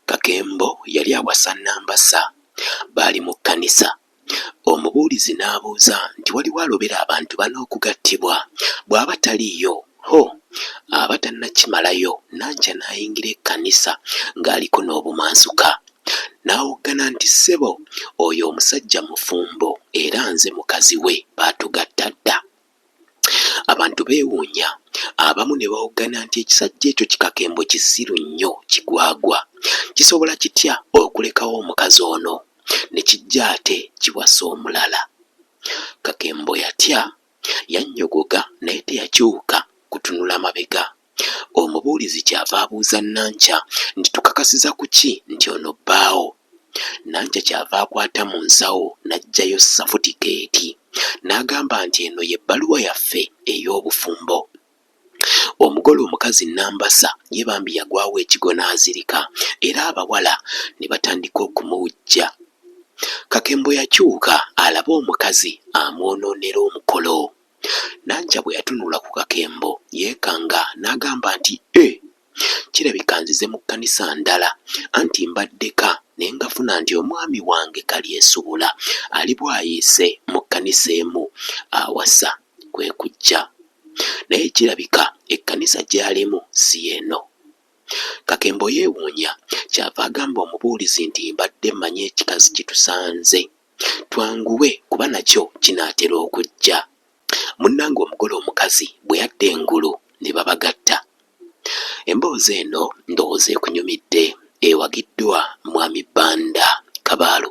Kakembo yali awasa Nambasa. Baali mu kkanisa. Omubuulizi n'abuuza nti, Waliwo alobera abantu bana okugattibwa? Bw'aba taliiyo, ho, aba tannakimalayo. Nankya n'ayingira ekkanisa ng'aliko n'obumansuka. N'awoggana nti, Ssebo, oyo omusajja mufumbo, era nze mukazi we. Baatugatta dda. Abantu beewuunya, abamu ne bawoggana nti ekisajja ekyo kikakembo kisiru nnyo kigwagwa, kisobola kitya okulekawo omukazi ono ne kijja ate kiwasa omulala? Kakembo yatya, yannyogoga naye teyakyuka kutunula mabega Omubuulizi ky'ava abuuza Nankya nti, Tukakasiza ku ki nti ono bbaawo? Nankya ky'ava akwata mu nsawo n'aggyayo safutikeeti n'agamba nti, Eno y'ebbaluwa yaffe ey'obufumbo. Omugole omukazi Nambasa ye bambi yagwawo ekigwo n'azirika era abawala ne batandika okumuwujja. Kakembo yakyuka alabe omukazi amwonoonera omukolo. Nankya bwe yatunula ku kakembo yeekanga n'agamba nti, Eh! Kirabika nzize mu kkanisa ndala, anti mbadde ka ne ngafuna nti omwami wange Kalyesubula ali Bwaise mu kkanisa emu awasa. Kwe kujja. Naye kirabika ekkanisa gy'alimu si y'eno. Kakembo yeewuunya, ky'ava agamba omubuulizi nti, Mbadde mmanyi ekikazi kitusanze. Twanguwe kuba nakyo kinaatera okujja. Munnange omugole omukazi bwe yadda engulu ne babagatta. Emboozi eno ndowooza ekunyumidde. Ewagiddwa Mwami Banda Kabaalu.